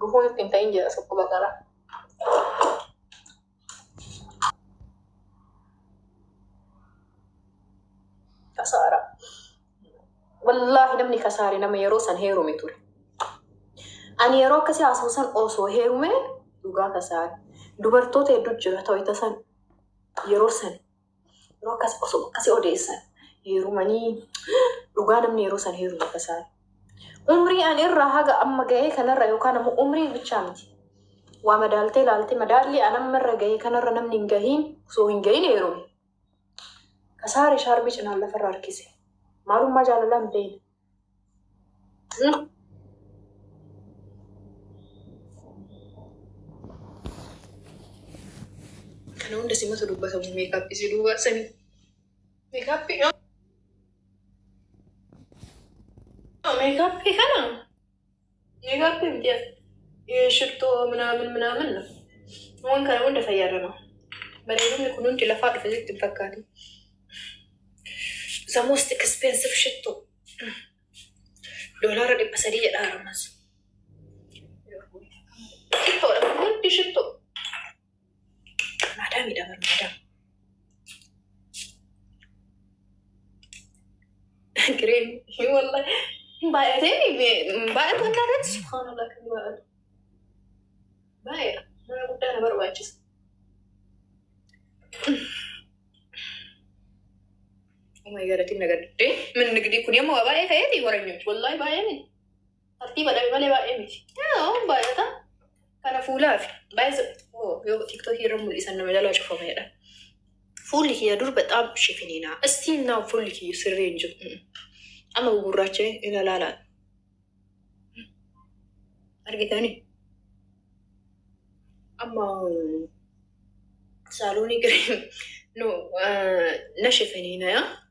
Gufuun ittiin ta'in jira tokko baqara. Kasaara. Wallaahi namni kasaare nama yeroo san heerume ture. Ani yeroo akkasii haasa'u san osoo heerume dhugaa kasaare. Dubartoota hedduu jira ta'u isa san yeroo san Yeroo akkas osoo akkasii odeessan heerumanii dhugaa namni yeroo san heerumu akka isaa. Umrii ani irraa haga amma gahee kanarra yookaan ammoo umrii bichaa miti. Waa madaaltee laaltee madaallii an amma irra gahee kanarra namni hin gahiin osoo hin gahiin heerume. Kasaare shaarbii cinaan lafarra harkise. Maalummaa jaalalaa hin beekne. Kana hunda simatu dubbatamu meekaappii si duubaa sani. Meekaappii meekaappii kana. Nikaa kun himti as shirxoo minaamin minaamin na. Waan kana hunda fayyadama. Bareedinni kun hundi lafaa dhufe sitti hin fakkaatu. The most expensive shitto. Doolaara dhibba sadii jedha haramas. Shittoodha kun hundi shittoo. Maadaamiidha bar maadaam. Kireen walla hin baay'atee hin baay'atu akka irratti subhaanallah kan baay'atu. Baay'eedha. Mana guddaa na barbaachisa. Oh my god, atiin na gaddee. Manni gidii kun ammoo waa baay'ee ta'eeti waranyooch. Wallaahi baay'ee miti. Tartiiba dhabe malee baay'ee miti. Yoo baay'ata kana fuulaa fi baay'ee yoo tiktookii irra mul'isan nama jalaa cufameedha. Fuulli kiyya dur bexaam shifiniina. Istiin naa fuulli kiyya sirrii hin jiru. Mm. Amma gugurraachee ila laalaan. Argitanii? Amma mm, saalonii giriin no na shifiniina yaa.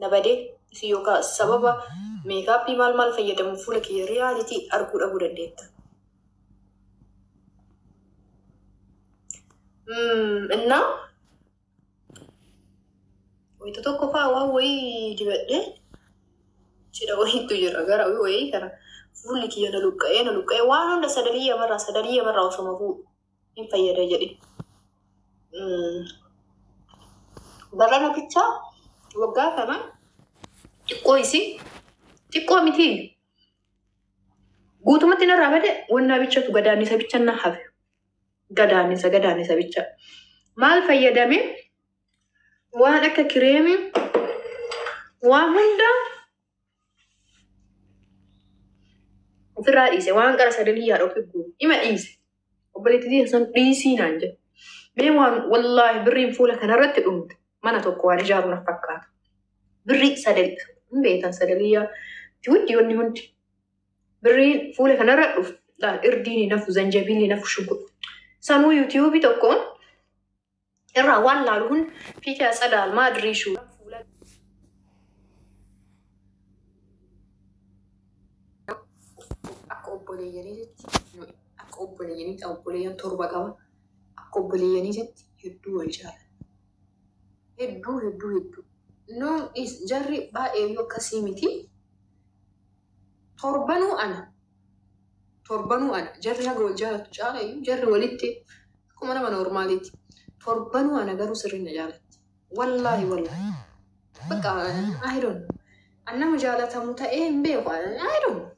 na bade isin yookaa sababa meekaappii maal maal fayyadamuun fuula kiyya riyaalitii arguu dhabuu dandeetta. Mm, Innaa wayita tokko faa waan wayii dibadhee cidha wayiitu jira gara wayii kana fuulli kiyya na luqqa'ee na luqqa'ee waan hunda sadalii yamarraa sadalii yamarraa osoo mafuu hin fayyada jedhe. Mm. Barana bichaa waggaa kana xiqqoo isii xiqqoo miti guutumatti narraa bade wannaa bichatu gadaannisa bicha na hafe. Gadaannisa gadaannisa bicha. Maal fayyadame waan akka kireemii waan hunda Ofirraa dhiise waan qara sadanii yaada ofii guuru. Ima dhiise. Obboleetti dhiise sun dhiisii naan jedhe. Mee waan wallaahi birriin fuula kanarratti dhumte mana tokko waan ijaaru na fakkaata. Birrii sadanii hin beektan sadanii yaa hundi wanni hundi. Birriin fuula kanarra dhufu irdiin hin hafu zanjabiilli hin hafu shunkurtu. Sanuu yuutiyuubii tokkoon irraa waan laalu hun fiikee atsadaal maa diriishuu fuula akka obboleeyyaniititti nu akka obboleeyyaniitti obboleeyyan torba qaba akka obboleeyyaniititti hedduu wal jaala hedduu hedduu hedduu nu is- jarri baay'eeyyuu akkasii miti torbanuu ana torbanuu ana jarri haga wal jaalatu caalayyuu jarri walitti Akkuma nama normaaliiti. Torbanuu ana garuu sirriin na jaalatti. Wallaahi wallaahi. Bakka I don't know. An nama jaalatamu ta'ee hin beeku. I don't know.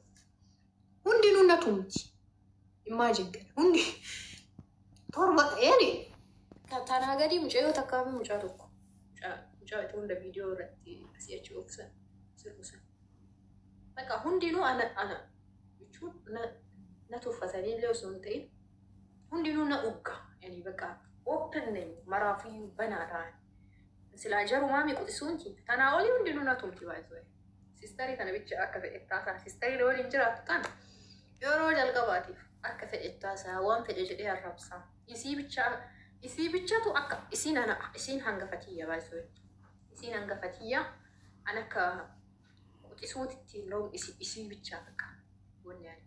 Hundinuu na tumti. Imagine kana. Hundi torba yaani ta- tanaa gadii mucayyoo takkaa fi mucaa tokko. Mucaa mucaa itti hunda viidiyoo irratti asii achi oofsan sirbusan. Bakka hundinuu ana ana jechuun na na tuffatanii illee osoo hin ta'in hundinuu na ugga yani baqa open name maraafiyyuu banaa taa'e silaa jarumaa mi quxisuun ki tanaa olii hundinuu na tumti baay'isuu sistarii tana bicha akka fedhettaa isaa sistarii na waliin jiraattu tana yeroo jalqabaatiif akka fedhettaa isaa waan fedhe jedhee arrabsaa isii bicha isii bichatu akka isiin ana isiin hanga fatiyya baay'isuu isiin hanga fatiyya an akka quxisuutitti hin rom'isi isii bichaaf akka wanni ani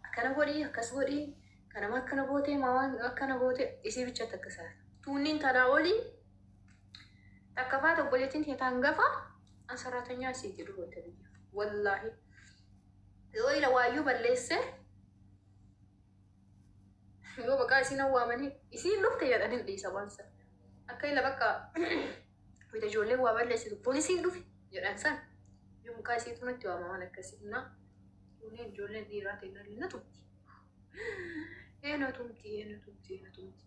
akkana godhi akkas godhi kana ma akkana goote ma waan akkana goote isii bichatti akka isaa tuunniin tanaa olii takka faata obboleettiin tee taan gafa an saraatanyaa isii jedhu goote biyya wallaahi yoo ila waayyuu balleessee yoo baqaa isiin awwaamanii isiin lufte jedhan hin dhiisa waan sana akka ila bakka Wayita ijoolleen waa balleessitu poolisiin dhufe jedhan san yoo mukaa isii tunatti waama waan akkasii humnaa kunneen ijoolleen dhiiraa kennaa illee na tumti. Ee na tumti, ee na tumti, ee na tumti.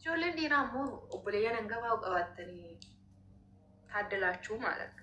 Ijoolleen dhiiraa ammoo obboleeyyan hangafaa qabaattanii taaddalaachuu maal akka.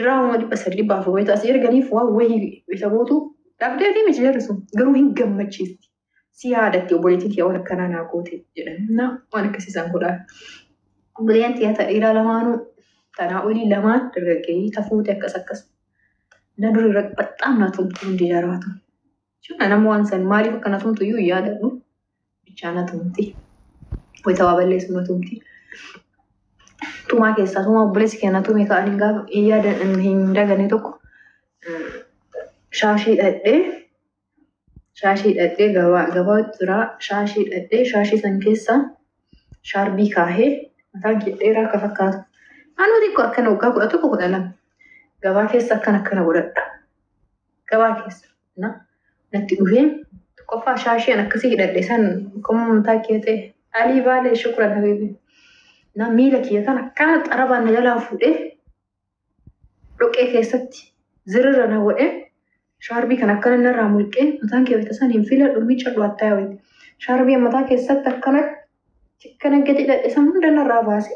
Diraamuma dhibba sadii dhibba afur wayita asii erganiif waan wayii isa gootu dhabdeetii miti jarri sun garuu hin gammachiisti. Si yaadatti obboleettiin kiyya waan akkanaa naa goote jedhan. Na waan akkasii isaan godhaa. Obboleen tiyya ta dhiiraa lamaanuu tanaa olii lamaan dargaggeeyyii tafuuti akkas akkas. Na duri irra baxxaam naa tumtu hundi jaraatu. Jechuun nama waan san maaliif akkana tumtu iyyuu hin yaadadhu. Bichaa na tumti. Wayita waa balleessu na tumti. Tumaa keessaa tumaa obboleessi kee na tume ka'an hin gaafa hin yaada hin dagane tokko shaashii dhadhee shaashii dhadhee gabaa gabaa jira shaashii dhadhee shaashii san keessaa shaarbii kaahee mataan kee dheeraa akka fakkaatu. Anuu xiqqoo akkana waggaa kudha tokko kudha lama gabaa keessa akkana akkana godhadha. gabaa keessa na natti dhufee tokkoffaa shaasheen akkasii hidhadhe san qoma mataa kee ta'e alii baalee shukuran habiibi na miila kiyya kan akkaan xarabaan na jalaa fuudhee dhoqee keessatti zirira na godhe shaarbii kan akkana narraa mulqee mataan kee wayita san hin filadhu miicadhu attaa wayita shaarbii mataa keessatti akkanatti Kana gadi hidhadhe san hunda narraa baase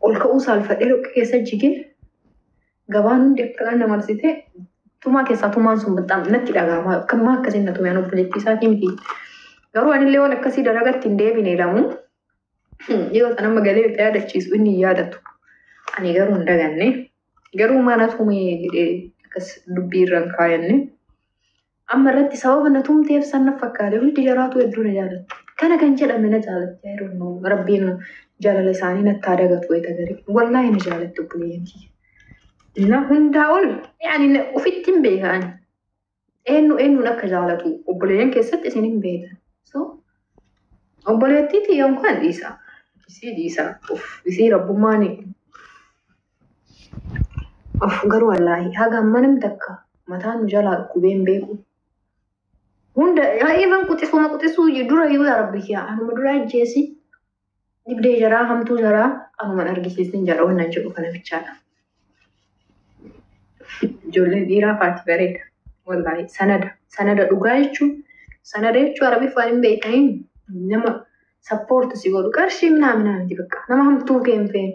ol ka'uu saalfadhee dhoqqee keessa jigee gabaan hundi akka na marsitee tumaa keessaa tumaan sun baxxaam natti dhaga'ama akkamaa akkasiin na tumee obboleettii isaatii miti. Garuu anillee waan akkasii dalagatti hin deebine lamu yoo ta'an amma galee itti yaadachiisu inni hin yaadatu. Ani garuu hin daganne garuu mana tumee jedhee akkas dubbii irra hin kaayanne. Amma irratti sababa na tumteef san na fakkaate hundi jaraatu hedduu na jaalatti. Kana kan jedhame na jaalatti. I don't know. Rabbiin jaalala isaanii natti haa dagatu wayita garii. Wallaahi na jaalatti obboleeyyan kiyya. Na hundaa ol yaani na- ofitti hin beekan. Eenyu eenyuun akka jaalatu obboleeyyan keessatti isin hin beekan. So obboleettii tiyya unkaan dhiisa. Isii dhiisa. Of isii rabbummaan Of garuu wallaahi haga amma namni takka mataa nu jalaa dhukkubee hin beeku. Hunda even quxisuma quxisuu je- dura yoo yaa rabbi kiyaa anuma dura ajjeesi dhibdee jaraa hamtuu jaraa anuman argisiisin jara wannan jedhu kana bichaadha. Ijoolleen dhiiraa faati bareeda. Wallaahi sanada sanada dhugaa jechuun sanada jechuun arabiif waan hin beekaniin nama sappoorti si godhu qarshii minaa minaa miti bakka nama hamtuu kee hin feene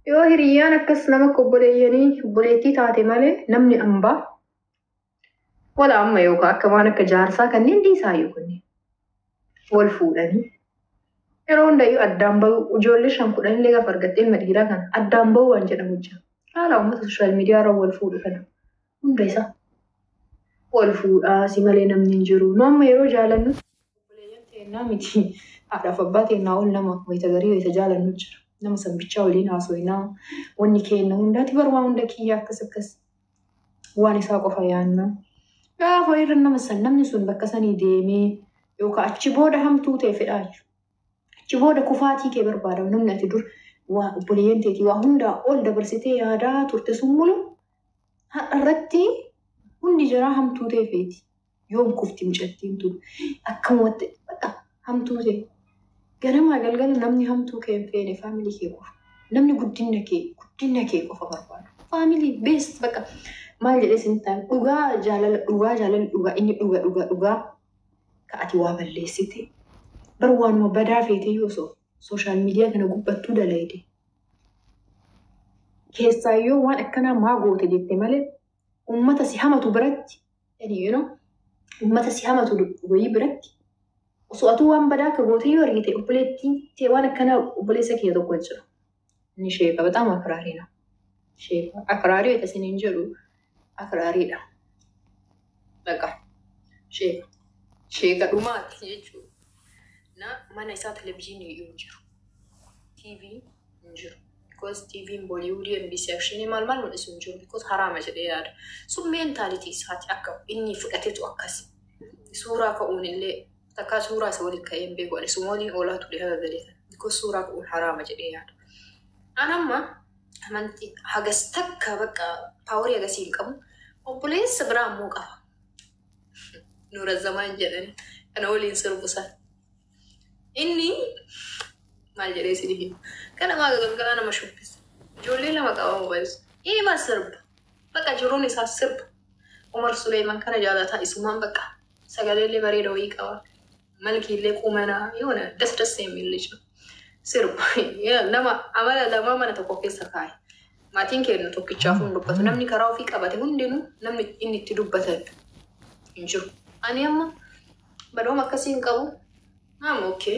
Yoo hiriyyaan akkas nama akka obboleeyyanii obboleettii taate malee namni ambaa wala amma yookaan akka waan akka jaarsaa kanneen dhiisaayyuu kunneen wal fuudhanii yeroo hundayyuu addaan bahuu ijoollee shan kudhan illee gaafa argattee ilma dhiiraa kana addaan bahuu waan jedhamu jira. Haala uummata sooshaal miidiyaa irra wal fuudhu kana. hunda isaa wal fuudhaa si malee namni hin jiru nu amma yeroo jaalannu obboleeyyan teennaa miti haadhaaf abbaa teennaa ol nama wayita garii wayita jaalannu jira nama san bichaa waliin haasoynaa wanni keenna hundaati bar waa hunda kiyya akkas akkas waan isaa qofa yaanna gaafa irra nama san namni sun bakka sanii deemee yookaan achi booda hamtuu ta'e fedhaa jiru. Achi booda kufaatii kee barbaada. Namni ati dur waa obboleeyyan teetii waa hundaa ol dabarsitee yaadaa turte sun mulu har'a irratti hundi jaraa hamtuu tee feeti. Yoom kufti mucattiin tun akkamumatti bakka hamtuu tee. Ganamaa galgala namni hamtuu kee hin feene faamilii kee qofa. Namni guddinna kee guddinna kee qofa barbaadu. Faamilii beest bakka maal jedhee isinitti haa dhugaa jaalala dhugaa jaalalli dhugaa inni dhuga dhuga dhugaa. ka ati waa balleessite bar waanuma badaa feeteyyuu osoo sooshaal miidiyaa kana gubbattuu dalayde keessaa yoo waan akkanaa maa goote jette malee ummata si hamatu biratti yani you know, ummata si hamatu wayii biratti osoo atuu waan badaa akka goote yoo argite obboleettii tee waan akkanaa obboleessa kiyya tokko jira Inni sheeka bataam akraarii na. Sheeka akraarii wayita isiniin jedhu akraariidha. Dhaqa. Sheeka. Sheeka dhumaati jechuudha. Na mana isaa televizyiinii hin jiru. TV hin jiru. Because TV'n Bollywood, NBC Action maal maal mul'isu hin jiru. Because haraama jedhee yaada. Sun meentaalitii isaati akka inni fudhatetu akkas. Suuraa ka'uun illee Takkaa suuraa isa waliin ka'ee hin beeku ani sumooliin oolaa ture haga galee kana because suuraa ka'uun haraama jedhee yaada. An amma amantii hagas takka bakka paaworii agasii hin qabu obboleessa biraa ammoo qaba. Nuura zamaan jedhan kana waliin sirbu san. Inni maal jedhee isin hima kana maaga galgalaa nama shubbisa ijoollee lama qaba mobaayilsa ima sirba bakka jiruun isaa sirba Umar Suleeman kana jaalataa isumaan bakka sagaleellee bareeda wayii qaba malkiillee qumanaa yoona das das seemil lij no sirba Yaa, nama amala lamaa mana tokko keessa kaaye maatiin keennu tokkichaaf hin dubbatu namni karaa ofii qabate hundinuu namni inni itti dubbatan hin jiru ani amma badooma akkasii hin qabu I'm okay.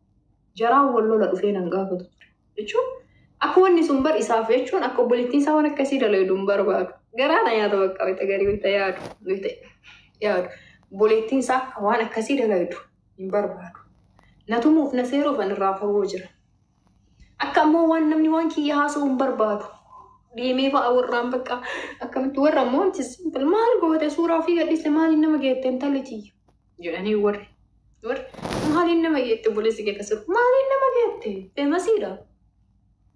Jaraan wal lola dhufee nan gaafatu ture. Jechuun akka wanni sun bar isaaf jechuun akka obboleettiin isaa waan akkasii dalaydu hin barbaadu. Garaa na nyaata bakka wayita garii wayita yaadu wayita yaadu. Obboleettiin isaa akka waan akkasii dalaydu hin barbaadu. Na tumuuf na seeruuf an irraa fagoo jira. Akka ammoo waan namni waan kiyya haasa'u hin barbaadu. Deemee fa'a warraan bakka akkamitti warra ammoo wanti simple maal goote suuraa ofii gadhiiste maaliin nama geette intalli tiyya. jedhanii warri warri maaliin nama geette obboleessi kee akkas jedhu maaliin nama geette feemasiidha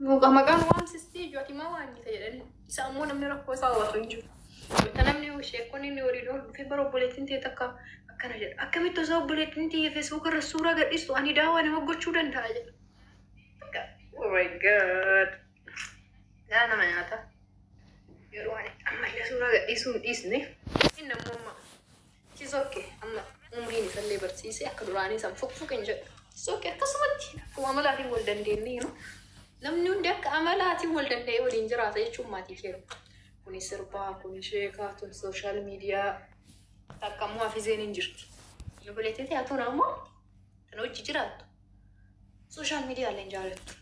Muka maqaan waamsistii ijoo ati maa waamnita jedhanii isa ammoo namni rakkoo isaa hubatu hin jiru. Wanta namni sheekonni inni waliin oolu dhufee bara obboleettiin ta'e takka akkana jedha akkamitti osoo obboleettiin ta'e feesbuuk irra suuraa gadhiistu ani daawaa nama gochuu danda'a jedha. Akka, Oh my god. Yaa nama nyaata. Yeroo ani ammallee suuraa gadhiisuu hin dhiisne. Inni ammoo amma It is ok amma umriin isallee barsiisee akka duraanii san fuqfuq hin jedhu. It is ok akkasumatti akkuma amalaatiin wal dandeennee you know. Namni hundi akka amalaatiin wal danda'ee waliin jiraata jechuun maatii kee miti. Kuni sirbaa, kuni sheekaa, tun sooshaal miidiyaa takka immoo hafizeen hin jirti. Obboleettii ta'e atuun ammoo kan hojii jiraattu sooshaal miidiyaa illee hin jaalattu.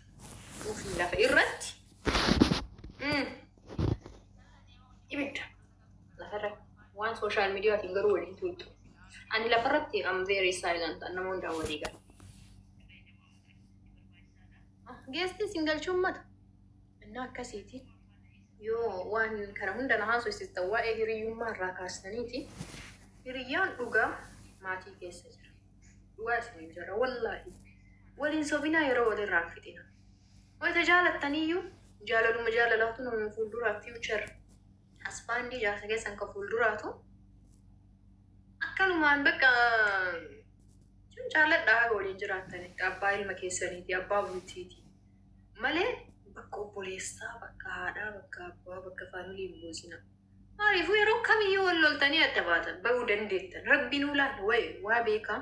Ofii lafa irratti mm, ibidda. lafarra waan sooshaal miidiyaatiin garuu waliin tuuttu. Ani lafarratti am very silent an nama hundaan walii gala. Geestii sin galchuu ummata. Innaa akkasiiti. Yoo waan kana hunda na haasofsiistan waa'ee hiriyyummaa irraa kaastaniiti. Hiriyyaan dhugaa maatii keessa jira. Dhugaa isiniin jira wallaahi. Waliin sobinaa yeroo walirraa hin fixina. Wayita jaalattaniyyuu jaalaluma jaalalaatu nama fuulduraa future Hasbaandii jaarsa keessan kan fuulduraatu akkanumaan bakka sun jaalladhaa haga waliin jiraattanitti abbaa ilma keessaniiti abbaa bultiiti malee bakka obboleessaa bakka haadhaa bakka abbaa bakka faamilii hin buusina. Maaliifuu yeroo kamiyyuu wal loltanii adda baatan bahuu dandeettan rabbiin ulaan wayi waa beekaa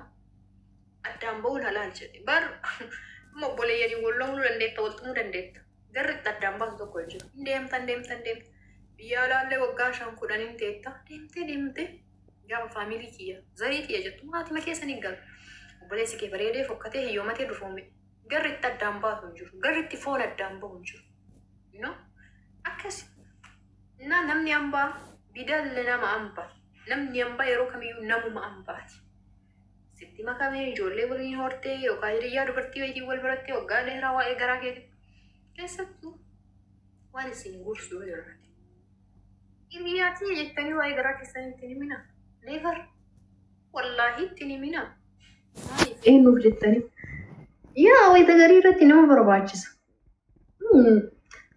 addaan bahuun halaal jedhe bar amma obboleeyyaniin wal loluu dandeetta wal tumuu dandeetta. Garri itti addaan baasu tokko hin jiru. Hin deemta, hin deemta, hin deemta. Biyya alaallee waggaa shan kudhan hin teetta. Deemtee deemtee gaafa faamilii kiyya zarii kiyya jettu maatima keessa ni galu. Obboleessi kee bareedee fokkatee hiyyoomatee dufoome. Garri itti addaan baasu hin jiru. Garri itti foon addaan bahu hin jiru. No? Akkas. Na namni ambaa bidalle nama amba. Namni ambaa yeroo kamiyyuu namuma ambaati. sitti makamee ijoollee waliin hortee yookaan hiriyyaa dubartii wayitiin wal barattee waggaa dheeraa waa'ee garaa keetii keessattuu waan isin gorsu yoo jiraate hiriyyaa tiyya jettanii waa'ee garaa keessanii ittiin himina never wallaahi ittiin himina maaliif eenyuuf jettanii yaa wayita garii irratti nama barbaachisa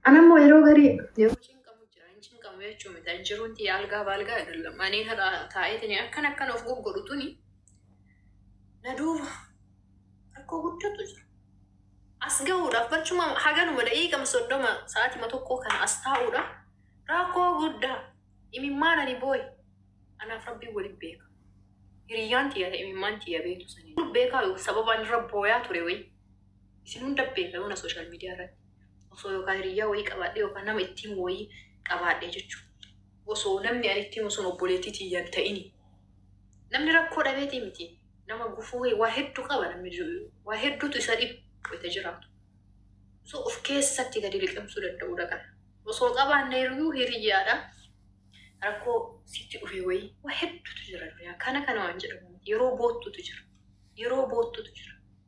Anammoo yeroo garii yeroo cinqamu jira. Hin cinqamu jechuun miti. Ani jiruun tiyya algaa baalgaa agallam. Ani har'a taa'eetini akkan akkan of goggodhu tuni na duuba rakkoo guddatu jira. As gahuudhaaf barcuma haganuma daqiiqama soddoma sa'aatima tokkoo kana as taa'uudhaaf rakkoo guddaa imimmaan ani booye anaaf rabbiin waliin beeka. Hiriyyaan tiyya ta'e imimmaan tiyya beektu sanii. Beekaa sababaan irra booyaa ture wayii. isin hunda beeka yoona sooshaal miidiyaa irratti osoo yookaan hiriyyaa wayii qabaadhee yookaan nama itti himu wayii qabaadhee jechuudha. Osoo namni ani itti himu sun obboleettii tiyya hin ta'ini. Namni rakkoo dhabeetii miti. Nama gufuu wayii waa hedduu qaba namni jiru. Waa hedduutu isa dhibu wayita jiraatu. So of keessatti gadi liqimsuu danda'uu dhaqan. Osoo qabaanne hiriyuu hiriyyaadha. Rakkoo sitti dhufee wayii waa hedduutu jira. Kana kana waan jedhamu miti. Yeroo boottutu jira. Yeroo boottutu jira.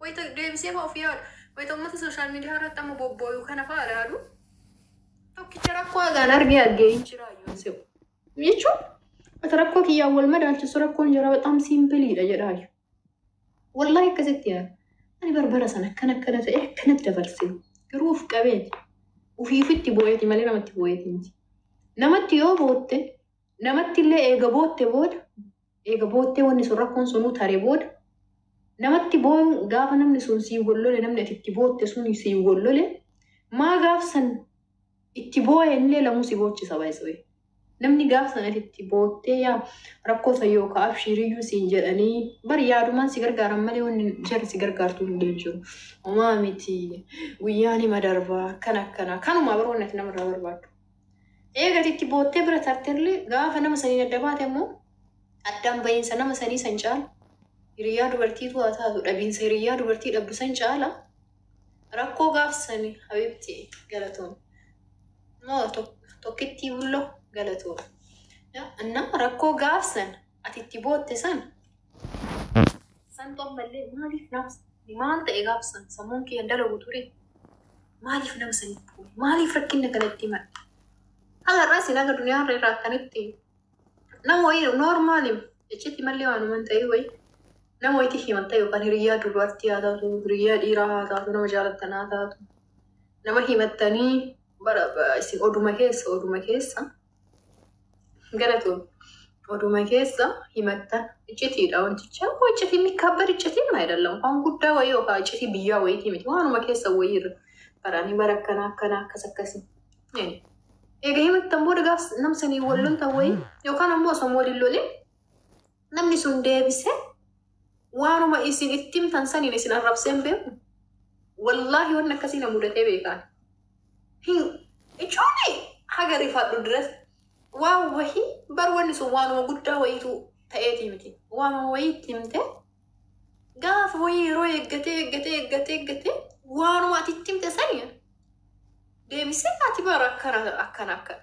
Wayita deebisee fa'aa of yaadu, wayita uummata sooshaal miidiyaa irratti amma bobbooyu kana fa'aa ilaalu tokkicha rakkoo hagaan argee argee hin jiraa yoon se'u. Jechuun wata rakkoo kiyyaan wal madaalchisu rakkoon jara baxaam siimpiliidha jedhaayu. Wallaahi akkasitti yaada. Ani barbara sana akkana akkana ta'e akkanatti dabarse garuu of qabeeti. Ofiifitti booyati malee namatti booyati miti. Namatti yoo bootte Namattillee eega bootte booda, eega boottee wanni sun rakkoon sunuu tare booda, namatti booyuun gaafa namni sun sii wollole namni ati itti bootte suni sii wollole maa gaaf san itti booyenillee lamuu si boochisa by the way. Namni gaaf san ati itti boottee yaa rakkoo san yookaa abshiiriyyuu siin jedhanii bar yaadumaan si gargaaran malee wanni jarri si gargaartuu hin jiru. Homaa miti guyyaa nima darbaa akkana akkana kanumaa bar wanni ati namarraa barbaaddu. Eega ati itti boottee bira tartellee gaafa nama saniin adda baate ammoo addaan bahiinsa nama sanii san caala hiriyyaa dubartiitu haa taatu dhabiinsa hiriyyaa dubartii dhabdu san caala rakkoo gaaf sani habibti galatoon moo tokkittii bullo galatoon anna rakkoo gaaf san ati itti bootte san san xommallee maaliif naaf maal ta'e gaaf san sammuun kiyyan dalagu ture. Maaliif nama saniif booye? Maaliif rakkinna kana itti himadhe? Haga irraa isin haga duniyaa irra irraa akkanitti nama wayii noormaalim iccitti mallee waanuman ta'ee wayii nama wayitti himatta yookaan hiriyyaa dubartii haa taatu hiriyyaa dhiiraa haa taatu nama jaalattan haa taatu nama himattanii bara isin oduma keessa oduma keessa Galatoon oduma keessa himatta iccitiidha wanticha immoo iccitii mikkaabbar iccitii maa jedhallam waan guddaa wayii yookaan iccitii biyyaa wayiitii miti waanuma keessa wayii irra baraanii bara akkanaa akkanaa akkas akkasii. Egaa himattan booda gaaf namsanii walloltan wayii yookaan ammoo osoo waliin lolee Namni sun deebisee waanuma isin itti himtan saniin isin arrabsee hin beeku. Wallaahi wanni akkasii na mudatee beekaan. Hin ijoollee haga rifaadhu diras waan wahii bar wanni sun waanuma guddaa wayiitu ta'eetii miti. Waanuma wayii itti himtee gaafa wayii yeroo eeggatee eeggatee eeggatee eeggatee waanuma ati itti himte saniin deebisee ati bara akkana akkana akkana.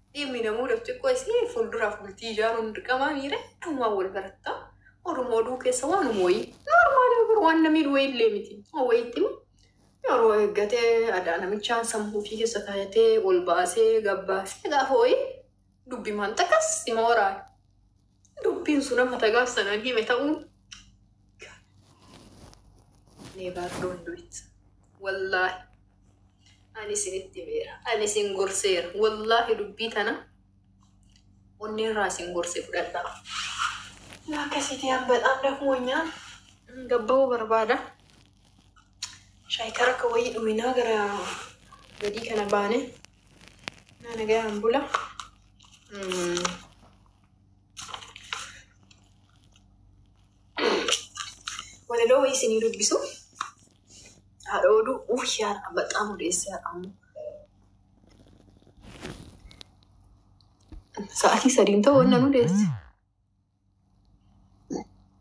Dhimmi namuudhaaf xiqqoo isii fuulduraaf bultii ijaaruun dirqamaa miira dhumaa wal baratta. Oduma oduu keessa waanuma wayii. Noormaalii bar waan namii wayii illee miti. Waan wayiitti immoo yeroo eeggatee adaa namichaan sammuu ofii keessa kaayatee ol baasee gabbaasee gaafa wayii dubbimaan takkas ima waraana. Dubbiin sun amma tagaaf sanaan hime ta'uu never don't do it. Wallaahi. Ani isinitti himeera. Ani isin gorseera. Wallaahi dubbii tana onnee irraa isin gorse fudhadhaa. Akkasitti an bexaam dakmoonyaan gabba'uu barbaada. Shaayikara akka wayii dhuminaa gara gadii kana baane. Naa nagayaan bula. Mm. Walaloo wayii isinii dubbisu. Haadha oduu uuf yaadha baxaam odeessi haadha ammoo. Sa'aatii sadiin ta'u wanna nu deessi.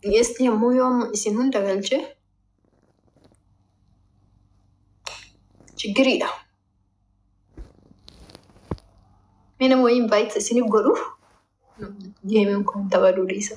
Dhiyeessi ammoo yoo amma isin hunda galchee chiggiriidha. Mee nama wayii invite isin godhu geemiin kun taphaduu dhiisa.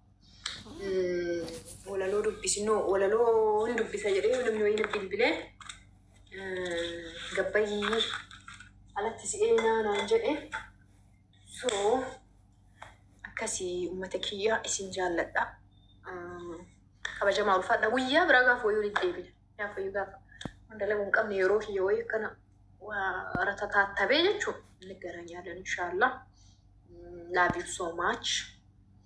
Mm, Walaloo dubbisi noo walaloo hin dubbisa jedhee yoo namni wayii na bilbilee eh, gabbayyii alatti si eenyaa naan jedhe soo akkasii uummata kiyyaa isin jaalladha. Mm, Kabajamaa ulfaadha guyyaa biraa gaafa wayii walitti deebina. Gaafa wayii gaafa hunda lagu hin qabne yeroo kiyya wayii akkana waa ratataatabee jechuun inni garaa nyaadan inshaallah. Mm, Love you so much.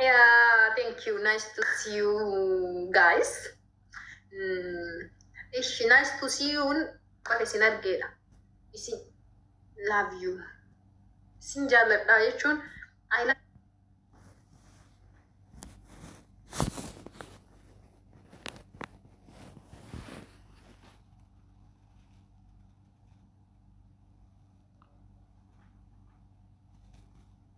Yeah, thank you. Nice to see you guys. Mm, ishi nice to see you. Qofa isin argeedha. Isin love you. Isin jaalladha jechuun I love